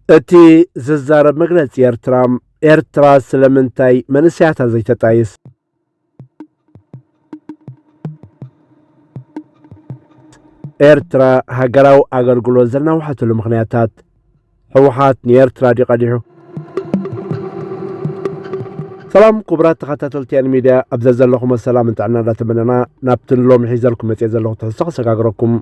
እቲ ዝዛረብ መግለጺ ኤርትራ ኤርትራ ስለምንታይ መንእሰያታ ዘይተጣይስ? ኤርትራ ሃገራዊ ኣገልግሎት ዘናውሓትሉ ምኽንያታት ሕወሓት ንኤርትራ ድዩ ቀዲሑ? ሰላም ክቡራት ተኸታተልቲ ኤን ሚድያ ኣብ ዘዘለኹም ሰላም ጥዕና እንዳተመነና ናብቲ ንሎሚ ሒዘልኩም መጽኤ ዘለኹ ትሕዝቶ ከሰጋግረኩም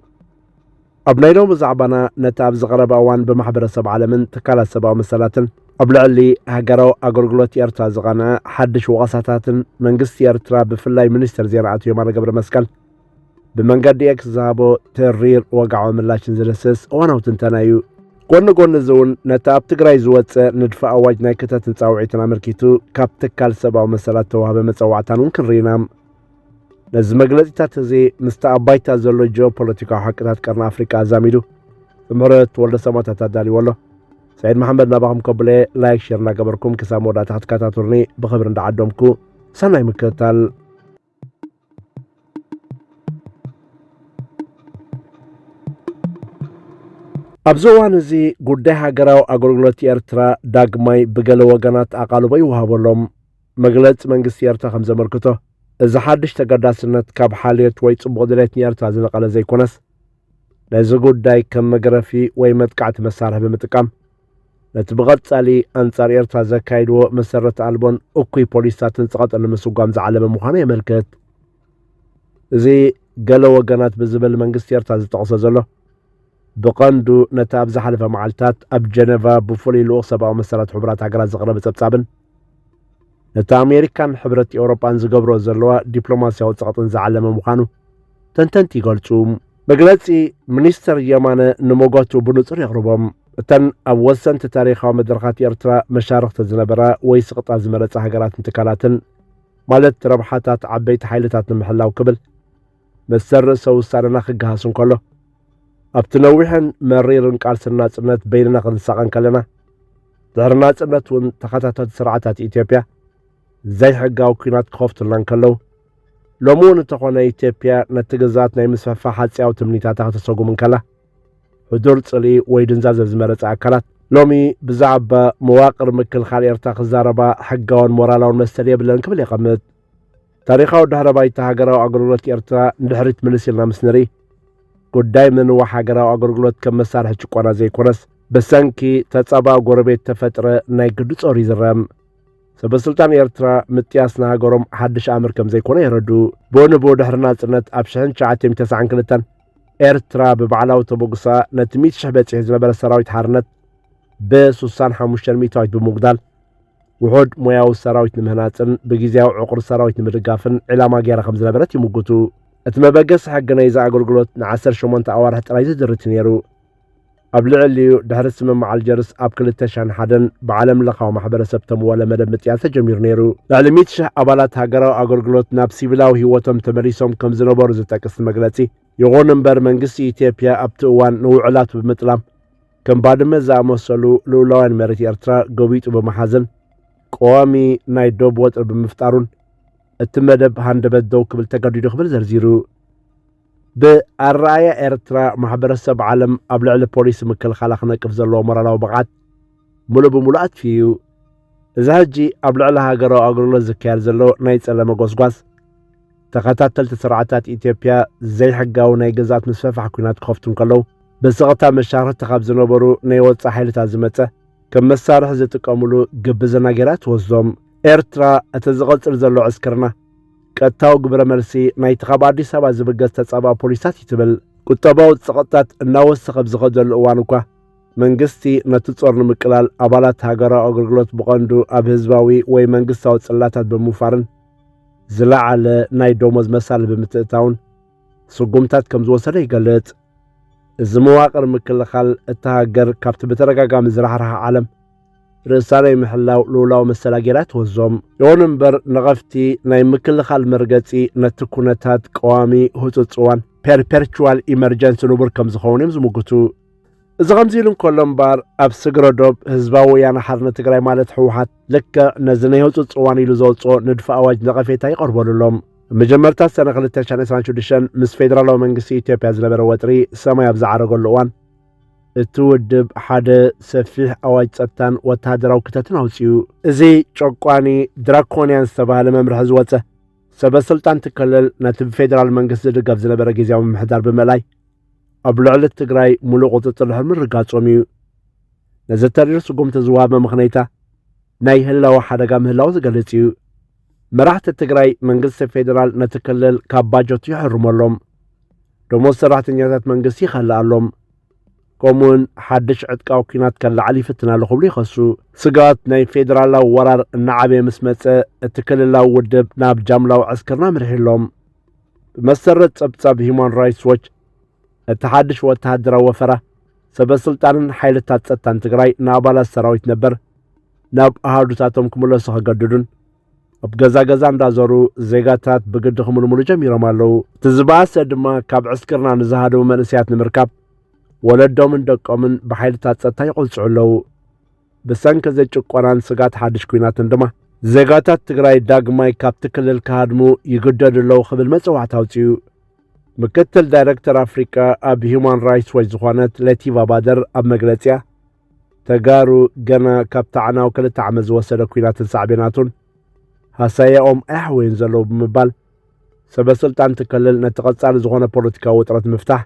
ኣብ ናይ ሎሚ ዛዕባና ነቲ ኣብዚ ቀረባ እዋን ብማሕበረሰብ ዓለምን ትካላት ሰብኣዊ መሰላትን ኣብ ልዕሊ ሃገራዊ ኣገልግሎት ኤርትራ ዝቐንዐ ሓድሽ ወቐሳታትን መንግስቲ ኤርትራ ብፍላይ ሚኒስትር ዜና ኣቶ የማነ ገብረ መስቀል ብመንገዲ ኤክስ ዝሃቦ ተሪር ወግዓዊ ምላሽን ዝድህስስ እዋናዊ ትንተና እዩ ጎኒ ጎኒ እዚ እውን ነቲ ኣብ ትግራይ ዝወፀ ንድፈ ኣዋጅ ናይ ክተትን ፃውዒትን ኣመልኪቱ ካብ ትካል ሰብኣዊ መሰላት ተዋህበ መፀዋዕታን እውን ክንርኢ ኢና ነዚ መግለጺታት እዚ ምስቲ ኣብ ባይታ ዘሎ ጂኦፖለቲካዊ ሓቅታት ቀርኒ ኣፍሪቃ ኣዛሚዱ ብምህረት ወልደ ሰማታት ኣዳልዎ ኣሎ ሰዒድ መሓመድ ናባኹም ከብለ ላይክ ሼር እናገበርኩም ክሳብ መወዳእታ ክትከታተሉኒ ብኽብሪ እንዳዓደምኩ ሰናይ ምክትታል ኣብዚ እዋን እዚ ጉዳይ ሃገራዊ ኣገልግሎት ኤርትራ ዳግማይ ብገለ ወገናት ኣቓልቦ ይወሃበሎም መግለጺ መንግስቲ ኤርትራ ከም ዘመልክቶ፣ እዚ ሓድሽ ተገዳስነት ካብ ሓልዮት ወይ ጽቡቕ ድሌት ንኤርትራ ዝነቐለ ዘይኮነስ፣ ነዚ ጉዳይ ከም መግረፊ ወይ መጥቃዕቲ መሳርሒ ብምጥቃም፣ ነቲ ብቐጻሊ ኣንጻር ኤርትራ ዘካይድዎ መሰረት ኣልቦን እኩይ ፖሊስታትን ጸቐጠ ንምስጓም ዝዓለመ ምዃኑ የመልክት። እዚ ገለ ወገናት ብዝብል መንግስቲ ኤርትራ ዝጠቕሶ ዘሎ፣ ብቐንዱ ነቲ ኣብ ዝሓለፈ መዓልታት ኣብ ጀነቫ ብፍሉይ ልኡኽ ሰብኣዊ መሰላት ሕቡራት ሃገራት ዝቐረበ ጸብጻብን፣ ነቲ ኣሜሪካን ሕብረት ኤውሮጳን ዝገብሮ ዘለዋ ዲፕሎማስያዊ ጸቕጥን ዝዓለመ ምዃኑ ተንተንቲ ይገልጹ መግለጺ ሚኒስተር የማነ ንመጓቱ ብንጹር የቕርቦም እተን ኣብ ወሰንቲ ታሪኻዊ መድረኻት ኤርትራ መሻርኽቲ ዝነበራ ወይ ስቕጣ ዝመረጻ ሃገራትን ትካላትን ማለት ረብሓታት ዓበይቲ ሓይልታት ንምሕላው ክብል መሰል ርእሰ ውሳነና ክገሃስ እንከሎ ኣብቲ ነዊሕን መሪርን ቃልሲ ናጽነት በይንና ክንሳቐ እንከለና ድሕሪ ናጽነት እውን ተኸታተልቲ ስርዓታት ኢትዮጵያ ዘይሕጋዊ ኩናት ክኸፍቱልና እንከለዉ ሎሚ እውን እንተኾነ ኢትዮጵያ ነቲ ግዛት ናይ ምስፍሕፋሕ ሓጽያዊ ትምኒታታ ከተሰጉም እንከላ ሕዱር ጽልኢ ወይ ድንዛዘ ዝመረጸ ኣካላት ሎሚ ብዛዕባ መዋቅር ምክልኻል ኤርትራ ክዛረባ ሕጋውን ሞራላውን መሰል የብለን ክብል የቐምጥ ታሪኻዊ ድሕረ ባይታ ሃገራዊ ኣገልግሎት ኤርትራ ንድሕሪት ምልስ ኢልና ምስ ንርኢ ጉዳይ ምንዋሕ ሃገራዊ ኣገልግሎት ከም መሳርሒ ጭቆና ዘይኮነስ ብሰንኪ ተጻባእ ጎረቤት ተፈጥረ ናይ ግዲ ጾር ይዝረም ሰበስልጣን ኤርትራ ምጥያስ ንሃገሮም ሓድሽ ኣምር ከም ዘይኮነ የረዱ ብንቡ ድሕሪ ናጽነት ኣብ 1992 ኤርትራ ብባዕላዊ ተበግሳ ነቲ 100 ሽሕ በጺሑ ዝነበረ ሰራዊት ሓርነት ብ65 ሚእታዊት ብምጉዳል ውሑድ ሞያዊ ሰራዊት ንምህናፅን ብግዜያዊ ዕቑር ሰራዊት ንምድጋፍን ዒላማ ገይራ ከም ዝነበረት ይምጉቱ። እቲ መበገሲ ሕጊ ናይዚ ኣገልግሎት ንዓሰርተ ሸሞንተ ኣዋርሕ ጥራይ ዝድርት እዩ ነይሩ። ኣብ ልዕሊኡ ድሕሪ ስምምዕ ኣልጀርስ ኣብ ክልተ ሽሕን ሓደን ብዓለም ለኻዊ ማሕበረሰብ ተምወለ መደብ ምጥያስ ተጀሚሩ ነይሩ። ልዕሊ ሚእቲ ሽሕ ኣባላት ሃገራዊ ኣገልግሎት ናብ ሲቪላዊ ህይወቶም ተመሊሶም ከም ዝነበሩ ዝጠቅስ እቲ መግለጺ፣ ይኹን እምበር መንግስቲ ኢትዮጵያ ኣብቲ እዋን ንውዕላቱ ብምጥላም፣ ከም ባድመ ዝኣመሰሉ ልኡላውያን መሬት ኤርትራ ገቢጡ ብምሓዘን ቀዋሚ ናይ ዶብ ወጥሪ ብምፍጣሩን እቲ መደብ ሃንደበት ደው ክብል ተገዲዱ ክብል ዘርዚሩ ብኣረኣያ ኤርትራ ማሕበረሰብ ዓለም ኣብ ልዕሊ ፖሊሲ ምክልኻላ ክነቅፍ ዘለዎ ሞራላዊ ብቕዓት ምሉእ ብምሉእ ኣትፊዩ እዚ ሕጂ ኣብ ልዕሊ ሃገራዊ ኣገልግሎት ዝካየድ ዘሎ ናይ ጸለመ ጎስጓስ ተኸታተልቲ ስርዓታት ኢትዮጵያ ዘይሕጋዊ ናይ ግዝኣት ምስፈፋሕ ኩናት ክኸፍቱ እንከለዉ ብስቕታ መሻርኽቲ ካብ ዝነበሩ ናይ ወፃ ሓይልታት ዝመፀ ከም መሳርሒ ዝጥቀምሉ ግብዝና ጌራ ትወስዶም ኤርትራ እቲ ዝቕፅል ዘሎ ዕስክርና ቀጥታዊ ግብረ መልሲ ናይቲ ካብ ኣዲስ ኣበባ ዝብገስ ተጻባእ ፖሊስታት እዩ ትብል ቁጠባዊ ጽቕጥታት እናወሰኸ ብዝኸደሉ እዋን እኳ መንግስቲ ነቲ ጾር ንምቅላል ኣባላት ሃገራዊ ኣገልግሎት ብቐንዱ ኣብ ህዝባዊ ወይ መንግስታዊ ጽላታት ብምውፋርን ዝለዓለ ናይ ደሞዝ መሳሊ ብምትእታውን ስጉምታት ከም ዝወሰደ ይገልጽ። እዚ መዋቕር ምክልኻል እታ ሃገር ካብቲ ብተደጋጋሚ ዝራሕርሓ ዓለም ርእሳ ናይ ምሕላው ልውላዊ መሰላ ጌራ ትወዞም። ይኹን እምበር ነቐፍቲ ናይ ምክልኻል መርገጺ ነቲ ኩነታት ቀዋሚ ህጹጽ እዋን ፐርፐርቹዋል ኢመርጀንሲ ንቡር ከም ዝኸውን እዮም ዝምጉቱ። እዚ ከምዚ ኢሉ እንከሎ እምበኣር ኣብ ስግረ ዶብ ህዝባዊ ወያነ ሓርነት ትግራይ ማለት ህወሓት ልክዕ ነዚ ናይ ህፁፅ እዋን ኢሉ ዘውፅኦ ንድፊ ኣዋጅ ነቐፌታ ይቐርበሉ ኣሎ። መጀመርታ ሰነ 226 ምስ ፌደራላዊ መንግስቲ ኢትዮጵያ ዝነበረ ወጥሪ ሰማይ ኣብ ዝዓረገሉ እዋን እቲ ውድብ ሓደ ሰፊሕ ኣዋጅ ጸጥታን ወተሃደራዊ ክተትን ኣውፅኡ። እዚ ጨቋኒ ድራኮንያን ዝተባህለ መምርሒ ዝወፀ ሰበ ስልጣን ትከለል ነቲ ብፌደራል መንግስቲ ዝድገፍ ዝነበረ ግዜያዊ ምምሕዳር ብምእላይ ኣብ ልዕሊ ትግራይ ሙሉእ ቁፅፅር ድሕሪ ምርጋፆም እዩ ነዚ ተሪር ስጉምቲ ዝወሃብ መመኽነይታ ናይ ህላወ ሓደጋ ምህላው ዝገልጽ እዩ መራሕቲ ትግራይ መንግስቲ ፌዴራል ነቲ ክልል ካብ ባጀቱ ይሕርመሎም ደሞዝ ሰራሕተኛታት መንግስቲ ይኸልኣሎም ከምኡውን ሓድሽ ዕጥቃዊ ኩናት ከለዓል ይፍትና ኣሎ ክብሉ ይኸሱ ስጋት ናይ ፌዴራላዊ ወራር እናዓበየ ምስ መፀ እቲ ክልላዊ ውድብ ናብ ጃምላዊ ዕስክርና ምርሒሎም ብመሰረት ጸብጻብ ሂዩማን ራይትስ ዎች እቲ ሓድሽ ወተሃደራዊ ወፈራ ሰበ ስልጣንን ሓይልታት ጸጥታን ትግራይ ንኣባላት ሰራዊት ነበር ናብ ኣሃዱታቶም ክምለሱ ከገድዱን ኣብ ገዛ ገዛ እንዳዞሩ ዜጋታት ብግዲ ክምልምሉ ጀሚሮም ኣለዉ እቲ ዝበኣሰ ድማ ካብ ዕስክርና ንዝሃደቡ መንእሰያት ንምርካብ ወለዶምን ደቆምን ብሓይልታት ጸጥታ ይቖልፅዑ ኣለዉ ብሰንኪ እዚ ጭቆናን ስግኣት ሓድሽ ኲናትን ድማ ዜጋታት ትግራይ ዳግማይ ካብቲ ክልል ክሃድሙ ይግደዱ ኣለዉ ክብል መጽዋዕታ ኣውጺኡ። ምክትል ዳይረክተር ኣፍሪቃ ኣብ ሂዩማን ራይትስ ዎች ዝኾነት ለቲቫ ባደር ኣብ መግለጺያ ተጋሩ ገና ካብ ታዕናው ክልተ ዓመት ዝወሰደ ኲናትን ሳዕቤናቱን ሃሳያኦም ኣያሕወዩን ዘለዉ ብምባል ሰበስልጣን ትክልል ነቲ ቀጻሊ ዝኾነ ፖለቲካዊ ውጥረት ምፍታሕ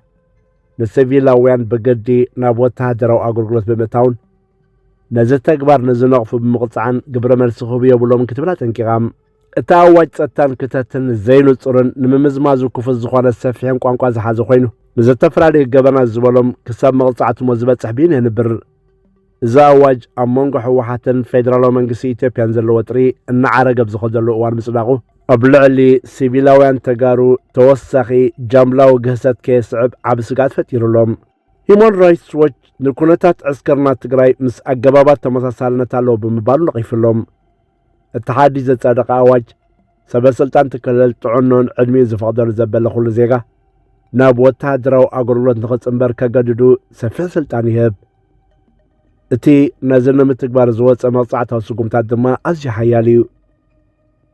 ንሲቪላውያን ብግዲ ናብ ወተሃደራዊ ኣገልግሎት ብምእታውን ነዚ ተግባር ንዝነቕፉ ብምቕጻዕን ግብረ መልሲ ክህቡ የብሎምን ክትብል ኣጠንቂቓ እቲ ኣዋጅ ጸጥታን ክተትን ዘይንጹርን ንምምዝማዙ ክፉት ዝኾነ ሰፊሕን ቋንቋ ዝሓዘ ኮይኑ ንዘተፈላለዩ ገበናት ዝበሎም ክሳብ መቕጻዕትሞ ዝበጽሕ ብይን የንብር እዚ ኣዋጅ ኣብ መንጎ ህወሓትን ፌደራላዊ መንግስቲ ኢትዮጵያን ዘሎ ወጥሪ እናዓረገ ኣብ ዝኸደሉ እዋን ምጽዳቑ፣ ኣብ ልዕሊ ሲቪላውያን ተጋሩ ተወሳኺ ጃምላዊ ግህሰት ከየስዕብ ዓቢ ስግኣት ፈጢሩ ኣሎ። ሂዩማን ራይትስ ዎች ንኩነታት ዕስክርና ትግራይ ምስ ኣገባባት ተመሳሳልነት ኣለዎ ብምባል ነቒፉ ኣሎ። እቲ ሓድሽ ዘጸደቐ ኣዋጅ ሰበ ስልጣን ክልል ጥዕንኡን ዕድሚኡ ዝፈቕደሉ ዘበለ ኩሉ ዜጋ ናብ ወተሃደራዊ ኣገልግሎት ንኽጽምበር ከገድዱ ሰፊሕ ስልጣን ይህብ እቲ ነዚ ንምትግባር ዝወፀ መቕጻዕታዊ ስጉምታት ድማ ኣዝዩ ሓያል እዩ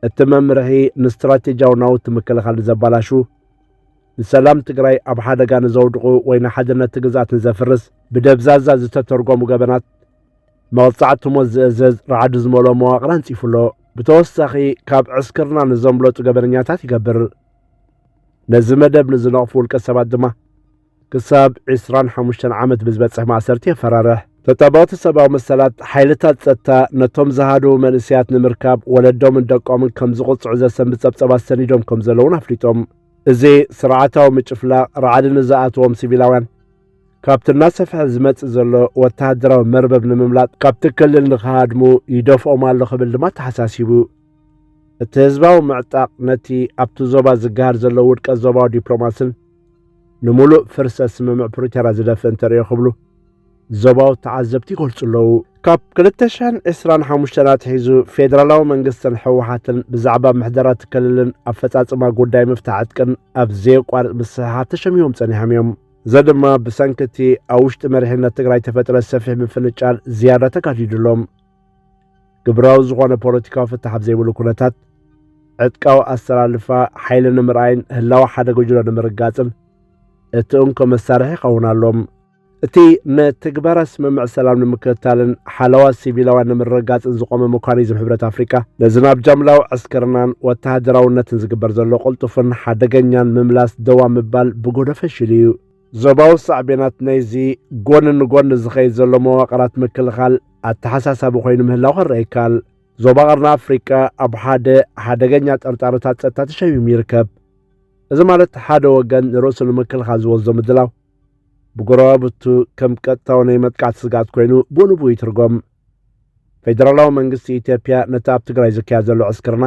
እቲ መምርሒ ንስትራቴጂያዊ ናውቲ ምክልኻል ንዘባላሹ ንሰላም ትግራይ ኣብ ሓደጋ ንዘውድቑ ወይ ንሓድነት ግዝኣት ንዘፍርስ ብደብዛዛ ዝተተርጎሙ ገበናት መቕጻዕቲ ሞት ዝእዘዝ ራዕዲ ዝመልኦ መዋቕር ኣንጺፉ ኣሎ። ብተወሳኺ ካብ ዕስክርና ንዘምለጡ ገበነኛታት ይገብር። ነዚ መደብ ንዝነቕፉ ውልቀ ሰባት ድማ ክሳብ 25 ዓመት ብዝበጽሕ ማእሰርቲ የፈራርሕ። ተጣበቕቲ ሰብኣዊ መሰላት ሓይልታት ጸጥታ ነቶም ዝሃደዉ መንእሰያት ንምርካብ ወለዶምን ደቆምን ከም ዝቕጽዑ ዘሰንብ ጸብጸባት ሰኒዶም ከም ዘለዉን ኣፍሊጦም እዚ ስርዓታዊ ምጭፍላቕ ራዕዲ ንዝኣተዎም ሲቪላውያን ካብቲ እናሰፍሐ ዝመጽእ ዘሎ ወተሃደራዊ መርበብ ንምምላጥ ካብቲ ክልል ንኽሃድሙ ይደፍኦም ኣሎ ክብል ድማ ተሓሳሲቡ። እቲ ህዝባዊ ምዕጣቕ ነቲ ኣብቲ ዞባ ዝገሃር ዘሎ ውድቀት ዞባዊ ዲፕሎማስን ንምሉእ ፍርሰት ስምምዕ ፕሪቶርያ ዝደፍእ እንተርእዮ ክብሉ ዞባዊ ተዓዘብቲ ይገልጹ ኣለዉ ካብ 225 ኣትሒዙ ፌደራላዊ መንግስትን ሕወሓትን ብዛዕባ ምሕደራ እቲ ክልልን ኣፈጻጽማ ጉዳይ ምፍታሕ ዕጥቅን ኣብ ዘየቋርጥ ምስሕሓብ ተሸሚሞም ጸኒሖም እዮም እዚ ድማ ብሰንኪ እቲ ኣብ ውሽጢ መሪሕነት ትግራይ ተፈጥረ ሰፊሕ ምፍንጫል ዝያዳ ተካዲድሎም ግብራዊ ዝኾነ ፖለቲካዊ ፍታሕ ኣብ ዘይብሉ ኩነታት ዕጥቃዊ ኣሰላልፋ ሓይሊ ንምርኣይን ህላዊ ሓደ ጉጅሎ ንምርጋጽን እቲ እንኮ መሳርሒ ይኸውን ኣሎም እቲ ንትግባራ ስምምዕ ሰላም ንምክትታልን ሓለዋ ሲቪላውያን ንምርግጋጽን ዝቖመ መኳኒዝም ሕብረት ኣፍሪቃ፣ ነዚ ናብ ጃምላዊ ዕስክርናን ወተሃደራውነትን ዝግበር ዘሎ ቅልጡፍን ሓደገኛን ምምላስ ደው ኣብ ምባል ብጎዶ ፈሺሉ እዩ። ዞባዊ ሳዕቤናት ናይዚ ጎኒ ንጎኒ ዝኸይድ ዘሎ መዋቕራት ምክልኻል ኣተሓሳሳቢ ኮይኑ ምህላው ክረኣ ይከኣል። ዞባ ቀርኒ ኣፍሪቃ ኣብ ሓደ ሓደገኛ ጠርጣረታት ጸጥታ ተሸሚሙ ይርከብ። እዚ ማለት ሓደ ወገን ንርእሱ ንምክልኻል ዝወስዶ ምድላው፣ ብጎረባብቱ ከም ቀጥታዊ ናይ መጥቃዕቲ ስግኣት ኮይኑ ብኡንብኡ ይትርጎም ፌደራላዊ መንግስቲ ኢትዮጵያ ነቲ ኣብ ትግራይ ዝካየድ ዘሎ ዕስክርና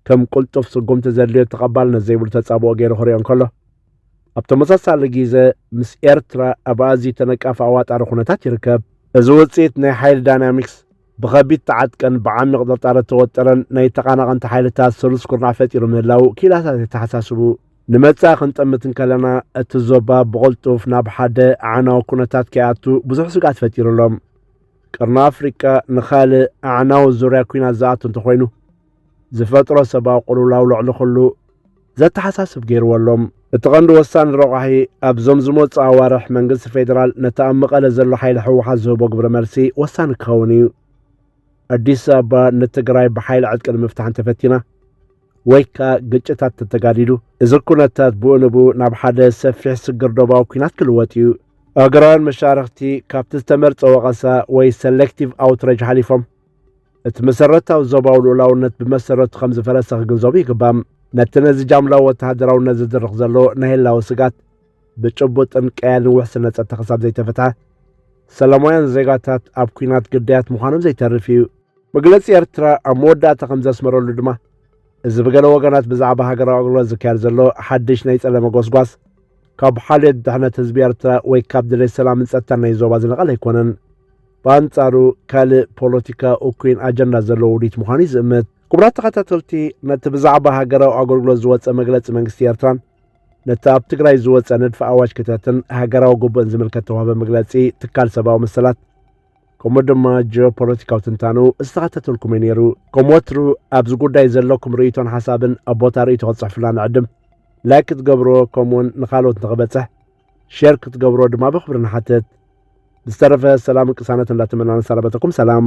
ከም ቁልጡፍ ስጉምቲ ዘድልዮ ተቐባልነት ዘይብሉ ተጻብኦ ገይሩ ክሪኦ እንከሎ ኣብ ተመሳሳሊ ግዘ ምስ ኤርትራ ኣብ ኣዝዩ ተነቃፊ ኣዋጣሪ ኩነታት ይርከብ እዚ ውፅኢት ናይ ሓይሊ ዳይናሚክስ ብኸቢድ ተዓጥቀን ብዓሚቕ ጥርጣረ ተወጠረን ናይ ተቓናቐንቲ ሓይልታት ሰሉስ ኩርናዕ ፈጢሩ ምህላው ክኢላታት የተሓሳስቡ ንመጻኢ ክንጠምት እንከለና እቲ ዞባ ብቕልጡፍ ናብ ሓደ ኣዕናዊ ኩነታት ከይኣቱ ብዙሕ ስግኣት ፈጢሩ ኣሎ። ቅርኒ ኣፍሪቃ ንኻልእ ኣዕናዊ ዙርያ ኩናት ዝኣቱ እንተኾይኑ ዝፈጥሮ ሰብኣዊ ቅልውላው ልዕሊ ኩሉ ዘተሓሳስብ ገይርዎ ኣሎ እቲ ቐንዲ ወሳኒ ረቋሒ ኣብዞም ዝመፁ ኣዋርሕ መንግስቲ ፌዴራል ነቲ ኣብ መቐለ ዘሎ ሓይሊ ሕወሓት ዝህቦ ግብረ መልሲ ወሳኒ ክኸውን እዩ ኣዲስ ኣበባ ንትግራይ ብሓይሊ ዕጥቂ ንምፍታሕ እንተፈቲና ወይ ከኣ ግጭታት ተተጋዲዱ እዚ ኩነታት ብኡ ንብኡ ናብ ሓደ ሰፊሕ ስግር ዶባዊ ኩናት ክልወጥ እዩ። ኣገራውያን መሻርኽቲ ካብቲ ዝተመርጸ ወቐሳ ወይ ሰሌክቲቭ ኣውትረጅ ሓሊፎም እቲ መሰረታዊ ዞባዊ ልኡላውነት ብመሰረቱ ከም ዝፈረሰ ክግንዘቡ ይግባም። ነቲ ነዚ ጃምላዊ ወተሃደራውነት ዝድርኽ ዘሎ ናይ ህላወ ስግኣት ብጭቡጥን ቀያልን ውሕስነት ጸጥታ ክሳብ ዘይተፈትሐ፣ ሰላማውያን ዜጋታት ኣብ ኲናት ግዳያት ምዃኖም ዘይተርፍ እዩ። መግለጺ ኤርትራ ኣብ መወዳእታ ከም ዘስመረሉ ድማ፣ እዚ ብገለ ወገናት ብዛዕባ ሃገራዊ ኣገልግሎት ዝካየድ ዘሎ ሓድሽ ናይ ጸለመ ጎስጓስ፣ ካብ ሓልዮት ድሕነት ህዝቢ ኤርትራ ወይ ካብ ድሌት ሰላምን ጸጥታን ናይ ዞባ ዝነቐለ ኣይኮነን። ብኣንጻሩ ካልእ ፖለቲካ እኩይን ኣጀንዳ ዘለዎ ውዲት ምዃኑ እዩ ዝእምት። ክቡራት ተኸታተልቲ፣ ነቲ ብዛዕባ ሃገራዊ ኣገልግሎት ዝወጸ መግለጺ መንግስቲ ኤርትራን ነቲ ኣብ ትግራይ ዝወፀ ንድፊ ኣዋጅ ክተትን ሃገራዊ ግቡእን ዝምልከት ተዋህበ መግለጺ ትካል ሰብኣዊ መሰላት ከምኡ ድማ ጂኦፖለቲካዊ ትንታኑ ዝተኸተተልኩም እዩ ነይሩ ከም ወትሩ ኣብዚ ጉዳይ ዘለኩም ርእይቶን ሓሳብን ኣብ ቦታ ርእይቶ ክጽሕፍላ ንዕድም ላይክ ክትገብሮ ከምኡውን ንካልኦት ንኽበጽሕ ሼር ክትገብሮ ድማ ብክብሪ ንሓትት ብዝተረፈ ሰላምን ቅሳነት እንዳተመናን ሰላበተኩም ሰላም